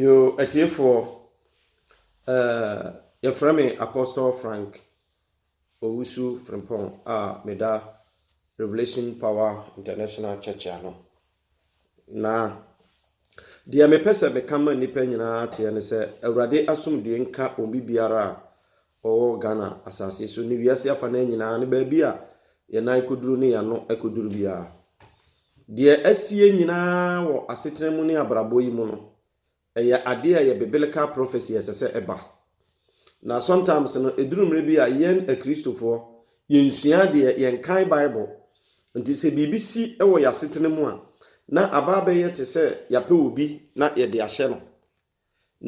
Yoo atiefoɔ, eh, yɛfrɛ me Apostle Frank Owusu Frimpong a meda Revelation Power International Church ano. Na deɛ mepɛ sɛ meka ma nnipa nyinaa teɛ ne sɛ Awurade asomdue nka obi biara a Ɔwɔ Ghana asase so ne wiase afanaa nyinaa no baabi a yɛn nan kɔduru ne yɛn ano kɔduru biara. Deɛ asi yɛn nyinaa wɔ asetena mu ne abrabɔ yi mu no, ɛyɛ adeɛ a ɛyɛ biblical prophecy a ɛsɛ sɛ ɛba. Na sometimes no, ɛduru mmerɛ bi a yɛn Akristofoɔ, yɛnsua adeɛ, yɛnkan Bible. Nti sɛ biribi si wɔ yɛn asetena mu a, na aba abɛyɛ te sɛ yɛapɛ obi na yɛde ahyɛ no.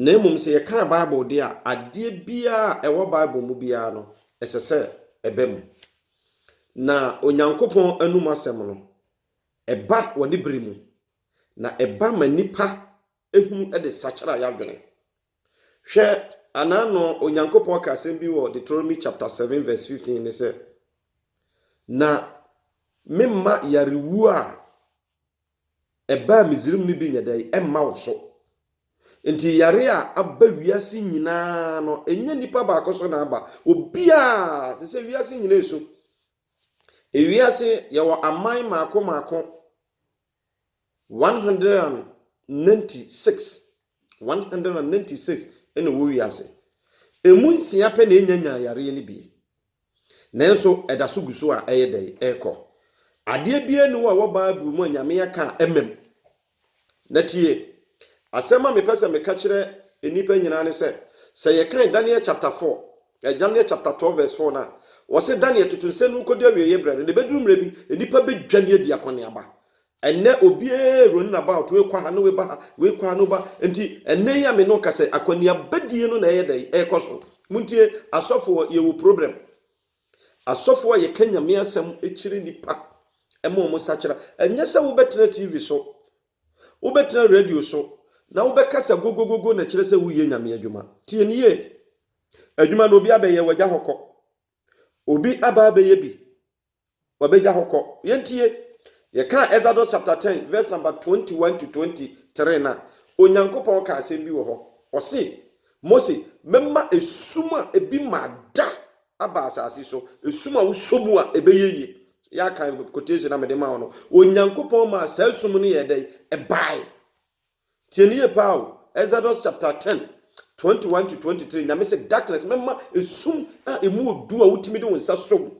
Na mmom sɛ yɛkan Bible de a, adeɛ biara a ɛwɔ Bible mu biara no, ɛsɛ sɛ ɛba mu. Na Onyankopɔn anom asɛm no, ɛba wɔ ne bere mu, na ɛba ma nnipa ehunu de sakyera yɛadwene. Hwɛ, anaano Onyankopɔn ka asɛm bi wɔ Deuteronomy chapter 7 verse 15 ne sɛ, Na memma yarewuo a ɛbaa Misraim no bi nyɛ dɛn mma wo so. Enti yare a aba wiase nyinaa no, ɛnyɛ nipa baako so na aba. Obiara, te sɛ wiase nyinaa esu. Ewiase yɛwɔ aman mmaako mmaako 196. 196 na ɛwɔ wiase. Emu nsia pɛ na ɛnya nyaa yareɛ no bi. Nanso ɛda so gu so a ɛyɛ dɛn? Ɛrekɔ. Adeɛ biara nni hɔ a ɛwɔ Bible mu a Nyame aka a ɛmmam. Na tie! Asɛm a mepɛ sɛ meka kyerɛ nnipa nyinaa ne sɛ, sɛ yɛkan Daniel chapter four, eh, Daniel chapter twelve verse four no a, wɔse Daniel toto nsɛm no mu kɔdu awieeɛ berɛ no, na ɛbɛduru mmerɛ bi, nnipa bɛdwane adi akɔneaba. Ɛnnɛ obiara running about, wei kɔ ha na wei ba ha, wei kɔ ha na woba. Nti ɛnnɛ yi a me ne wo kasa yi, akɔneabadie no na ɛyɛ dɛn? Ɛrekɔ so. Montie, asɔfoɔ, yɛwɔ problem. Asɔfoɔ a yɛka Nyame asɛm kyerɛ nnipa ma wɔn sakyera. Ɛnyɛ sɛ wobɛtena TV so, wobɛtena radio so, na wobɛkasa gogogogo na kyerɛ sɛ woyɛ Nyame adwuma. Tie no yie. Adwuma no obi abɛyɛ wagya hɔ kɔ. Obi aba abɛyɛ bi. Wɔbɛgya hɔ kɔ. Yɛntie. Yɛkaa Exodus chapter ten verse number twenty one to twenty three no a, Onyankopɔn kaa asɛm bi wɔ hɔ. Ɔse, Mose, mɛma esum a ebi mmaa da aba asase so, esum a wosɔ mu a ɛbɛyɛ yie. Yɛakan quotation a mede maa wo no. Onyankopɔn maa saa esum no yɛɛ dɛn? Ɛbae. Tie no yie paa o, Exodus chapter ten, twenty one to twenty three, Nyame se darkness, mɛma esum a emu wɔ du a wotumi de wo nsa sɔ mu.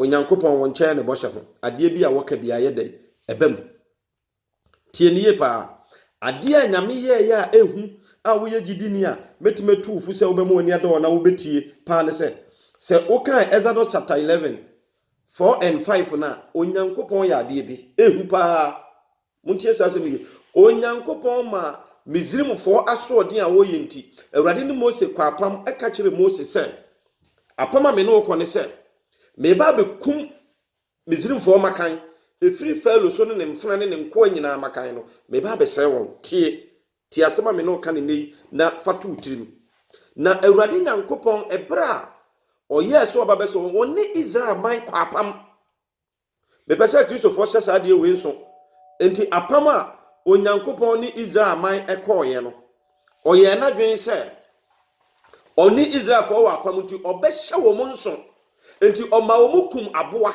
Onyankopɔn wo nkyɛn ne bɔhyɛ ho, adeɛ bi a wɔka bi ayɛ dɛn, ɛba mu. Tie no yie paa, adeɛ a Nyame yɛɛyɛ a ehu a woyɛ gyidini a mɛtumi atu wo fo sɛ wobɛma w'ani ada hɔ na wobɛtie paa ne sɛ, sɛ wokan Exodus chapter eleven, four and five no a, Onyankopɔn yɛ adeɛ bi, ehu paa. Montie saa asɛm yi hwɛ. Onyankopɔn maa Misrimfoɔ asoɔden a wɔyɛ nti, Awurade ne Mose kɔɔ apam ka kyerɛɛ Mose sɛ, Apam a me ne wo kɔ ne sɛ, mereba abɛkum Misrimfoɔ mmakan, ɛfiri Farao so ne ne mfena ne ne nkoa nyinaa mmakan no, mereba abɛsɛe wɔn. Tie! Tie asɛm a me ne wo ka no nnɛ yi na fa to wo tirim. Na Awurade Nyankopɔn, ɛberɛ a ɔyɛɛ sɛ ɔba bɛsɛ wɔn, wɔne Israel man kɔɔ apam. Mepɛ sɛ Kristofoɔ hyɛ saa adeɛ wei nso. Enti apam a Onyankopɔn ne Israel man kɔɔeɛ no, ɔyɛɛ n'adwene sɛ ɔne Israelfoɔ wɔ apam nti ɔbɛhyɛ wɔn nso. Enti ɔma wɔn kum aboa,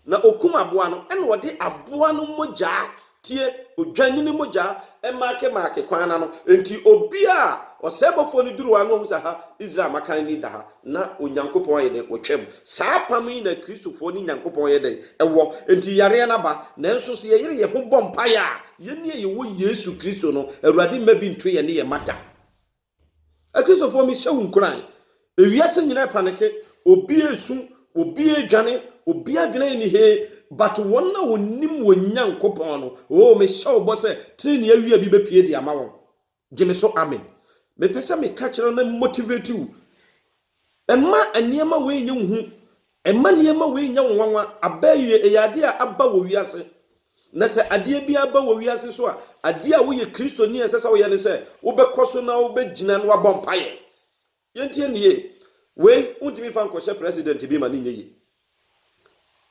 na ɔkum aboa no, ɛna ɔde aboa no mogyaa tie odwennini mogya mmaakemmaake kwan no ano. Enti obi a ɔsɛebɔfoɔ no duru hɔ ara na ɔhu sɛ, aha, Israel mmakan ni da ha, na Onyankopɔn ayɛ dɛn? Ɔtwam. Saa apam yi na Kristofoɔ ne Nyankopɔn yɛ dɛn? Ɛwɔ. Enti yareɛ no aba. Nanso sɛ yɛyere yɛn ho bɔ mpaeɛ a, yɛn a yɛwɔ Yesu Kristo no, Awurade mma bi nto yɛn ne yɛn mma da. Akristofoɔ, mehyɛ wo nkuran. Ewiase nyinaa repaneke. Obi resu, obi redwane, obi adwene yɛ ne he. But wɔn a wɔnim wɔn Nyankopɔn no, oh, mehyɛ wo bɔ sɛ trenee awia bi bɛpue de ama wɔn. Gye me so amen. Mepɛ sɛ meka kyerɛ wo na motivate wo. Ɛma nneɛma wei nyɛ wo hu. Ɛma nneɛma wei nyɛ wo nwanwa. Abɛɛwie, ɛyɛ adeɛ a aba wɔ wiase. Na sɛ adeɛ bi ara ba wɔ wiase so a, adeɛ a woyɛ Kristoni a ɛsɛ sɛ woyɛ ne sɛ wobɛkɔ so na wobɛgyina na woabɔ mpaeɛ. Yɛntie no yie. Wei, wontumi mfa nkɔhyɛ president bi ma no nyɛ yie.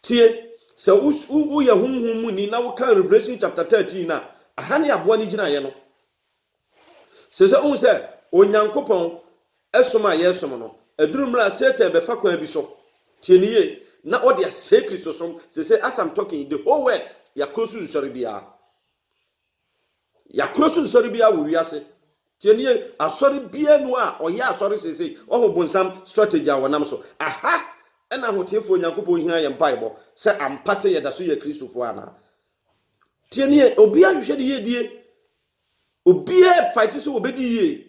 Tie, sɛ wo, wo, woyɛ honhom mu ni na wokan Revelation chapter 13 no a, aha ne aboa no gyinaeɛ no. Sɛ sɛ wohu sɛ Onyankopɔn som a yɛresom no aduru mmerɛ a Satan bɛfa kwan bi so, tie no yie, na ɔde asɛe Kristosom. Seesei as I'm talking, the whole world, yɛakoro so nsɔre biara. Yɛakoro so nsɔre biara wɔ wiase. Tie no yie, asɔre biara nu a ɔyɛ asɔre seesei, ɔho bonsam strategy a wɔnam so. Aha ɛna ahoteefoɔ Onyankopɔn hia yɛ mpaebɔ sɛ ampa sɛ yɛda so yɛ Kristofoɔ anaa. Tie no yie, obiara hwehwɛ ne yiedie Obiara fight sɛ obedi yie.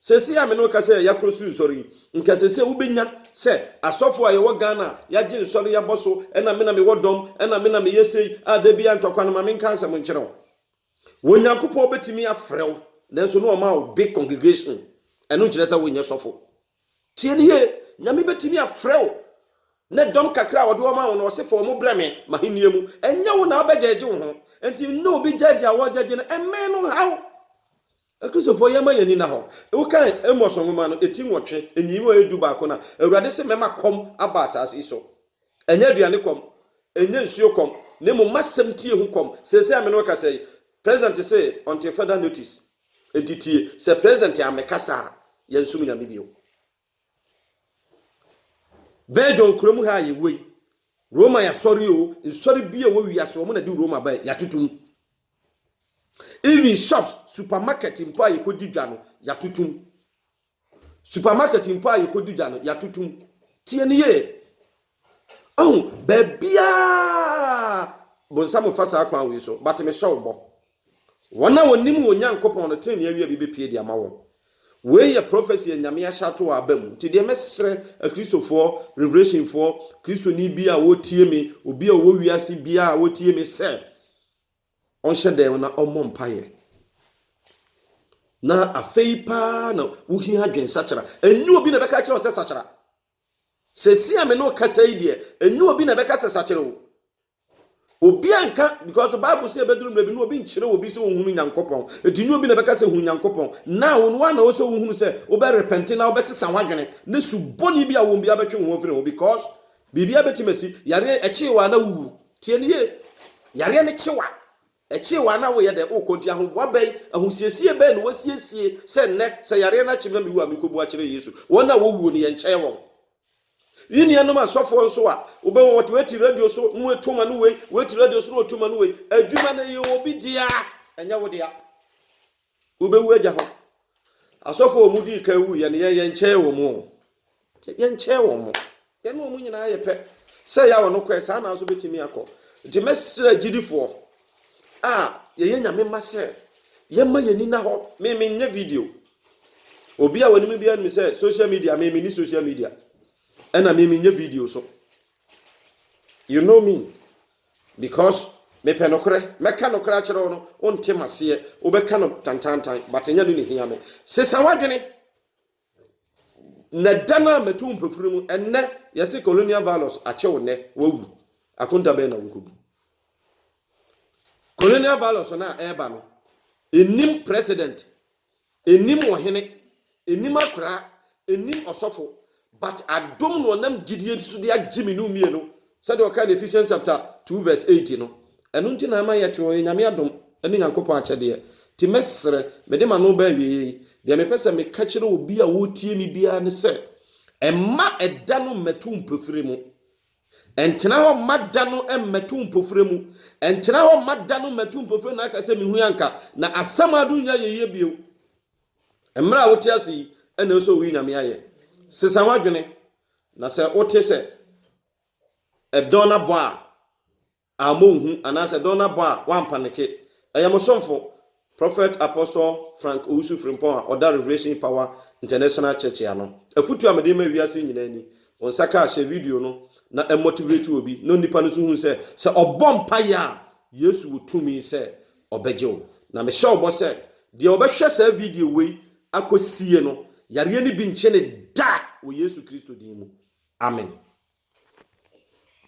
Sɛsɛ a me ne wo kasa yɛ yakoro so nsɔre yi, nka sɛsɛ wobɛnya sɛ asɔfo a yɛwɔ Ghana a yagye nsɔre yabɔ so ɛna me na me wɔ dɔm ɛna me na me yɛ sei a da biara ntɔkwa no ma me nka asɛm nkyerɛ wo. Wo Nyankopɔn bɛtumi afrɛ wo nanso na ɔma wo big congregation ɛno nkyerɛ sɛ wo nyɛ sɔfo. Tie no yie, Nyame bɛtumi afrɛ wo ne dɔm kakra a ɔde wɔn ma wo no, ɔse fa wɔn brɛ me m'ahennie mu. Ɛnyɛ wo na wobɛgyɛɛgye wo ho, enti nne obi gyɛɛgye a wɔregyɛɛgye no mmɛn no nha wo. Akristofoɔ yɛmma yɛn ani nna hɔ. Wokan Amos nwoma no, eti nwɔtwe, nyiyimu a ɛyɛ du baako no a, Awurade se mɛma kɔm aba asaase yi so. Ɛnyɛ aduane kɔm, ɛnyɛ nsuo kɔm, na mmom m'asɛm tie ho kɔm. Seesei a me ne wo kasa yi, President se ɔntee further notice. Enti tie, sɛ President ammɛkasa a, yɛnsom Nyame bio. Belgium kuro mu ha a yɛwɔ yi, Roma asɔre o, nsɔre bi a ɛwɔ wiase, wɔn na de Roma bae, yɛatoto mu. Even shops, supermarket mpo a yɛkɔdi dwa no, yɛatoto mu. Supermarket mpo a yɛkɔdi dwa no, yɛatoto mu. Tie no yie. Ɔhu, baabiaa bonsam mfa saa kwan wei so, but mehyɛ wo bɔ. Wɔn a wɔnim wɔn Nyankopɔn no, tenenee awia bi bɛpue de ama wɔn. Wei yɛ prophecy a Nyame ahyɛ ato wɔ aba mu. Nti deɛ mɛsrɛ Akristofoɔ, Revelationfoɔ, Kristoni bi a ɔretie me, obi a ɔwɔ wiase biaa a ɔretie me sɛ, Ɔnhyɛ dɛw na ɔmmɔ mpaeɛ. Na afei paa na wohia adwensakyera. Ɛnyɛ obi na ɛbɛka akyerɛ wo sɛ sakyera. Sɛsi a me ne wo kasa yi deɛ, ɛnyɛ obi na ɛbɛka sɛ sakyera o. Obi anka, because Bible sɛ ɛbɛduru mmerɛ bi na obi nkyerɛ obi sɛ ɔnhunu Nyankopɔn. Ɛti nyɛ obi na ɛbɛka sɛ hu Nyankopɔn. Now wo ara na ɛwɔ sɛ wohunu sɛ wobɛrepɛnte na wobɛsesa w'adwene ne subɔne bi a wɔwɔ mu biara bɛtwe wo ho afiri ho because Biribiara betumi asi. Yareɛ, ɛkyee wo a na wuwu. Tie no yie. Yareɛ no kye wo a, ɛkyee wo a na woyɛ dɛn? Wokɔ. Nti ahoboa bɛn, ahosiesie bɛn na woasiesie sɛ nnɛ, sɛ yareɛ no akye me na mewu a, merekɔbu akyerɛ Yesu? Wɔn a wɔwuo no, yɛnkyɛɛ wɔn. Yi nuanom asɔfoɔ nso a, wobɛhu wɔte wei te radio so na wɔatu ma no wei, wei te radio so na wɔatu ma no wei. Adwuma no, ɛyɛ obi dea, ɛnyɛ wo dea. Wobɛwu agya hɔ. Asɔfo a wɔn dii kan wuiɛ no, yɛn yɛnkyɛɛ wɔn o. Yɛnkyɛɛ wɔn. Yɛn ne wɔn nyinaa yɛ pɛ. Sɛ yɛ a wɔn kɔɛ, saa na nso bɛtumi akɔ. Nti mɛsrɛ gyidifoɔ a yɛyɛ Nyame mma sɛ yɛmma yɛn ani nna hɔ. Me menyɛ video. Obi a wɔnim biara nim sɛ social media, me menni social media. Ɛna me menyɛ video so. You know me. Because mepɛ nokorɛ, mɛka nokorɛ akyerɛ wo no, wonte maseɛ, wobɛka no tantaantan, but nyɛ no na ɛhia me. Sesa w'adwene, na da no a mɛto wo mpafiri mu, ɛnnɛ, yɛse colonial violence akye wo nnɛ, woawu, akonta bɛn na wokɔbu? Colonial violence no a ɛreba no, ɛnnim president Nnim ɔhene, nnim akoraa, nnim ɔsɔfo, but adom na ɔnam gyidie so de agye me ne wo mmienu, sɛdeɛ ɔkaa no Ephesians chapter two verse eight no. Ɛno nti na ama yɛte hɔ, ɛyɛ Nyame adom ne Nyankopɔn akyɛdeɛ. Nti mɛsrɛ, mede m'ano ba awieɛ yi, deɛ mepɛ sɛ meka kyerɛ obi a ɔretie me biara ne sɛ, mma ɛda no mmɛto wo mpofire mu. Ɛntena hɔ mma da no mmɛto mpofirɛ mu, ɛntena hɔ mma da no mmɛto mpofirɛ na aka sɛ mehui anka na asɛm a donya yɛyie bio. Mmerɛ a wote ase yi na ɛsɛ owi Nyame ayɛ. Sesa ho adwene na sɛ wote sɛ ɛdɔn abɔ a Ammɔ wo hu anaasɛ dɔn abɔ a woampaneke. Ɛyɛ mo somfo, Prophet Apostle Frank Owusu Frimpong a ɔda Revelation Power International Church ano. Afotu a mede rema wiase nyinaa ni, Wo nsa ka a, hyɛ video no na ɛmmɔtivreti obi na onipa no nso hu sɛ, sɛ ɔbɔ mpaeɛ a, Yesu wɔ tumi sɛ ɔbɛgye wo. Na mehyɛ wo bɔ sɛ, deɛ ɔbɛhwɛ saa video wei akɔsie no, yareɛ no bi nkye no da wɔ Yesu Kristo din mu. Amen.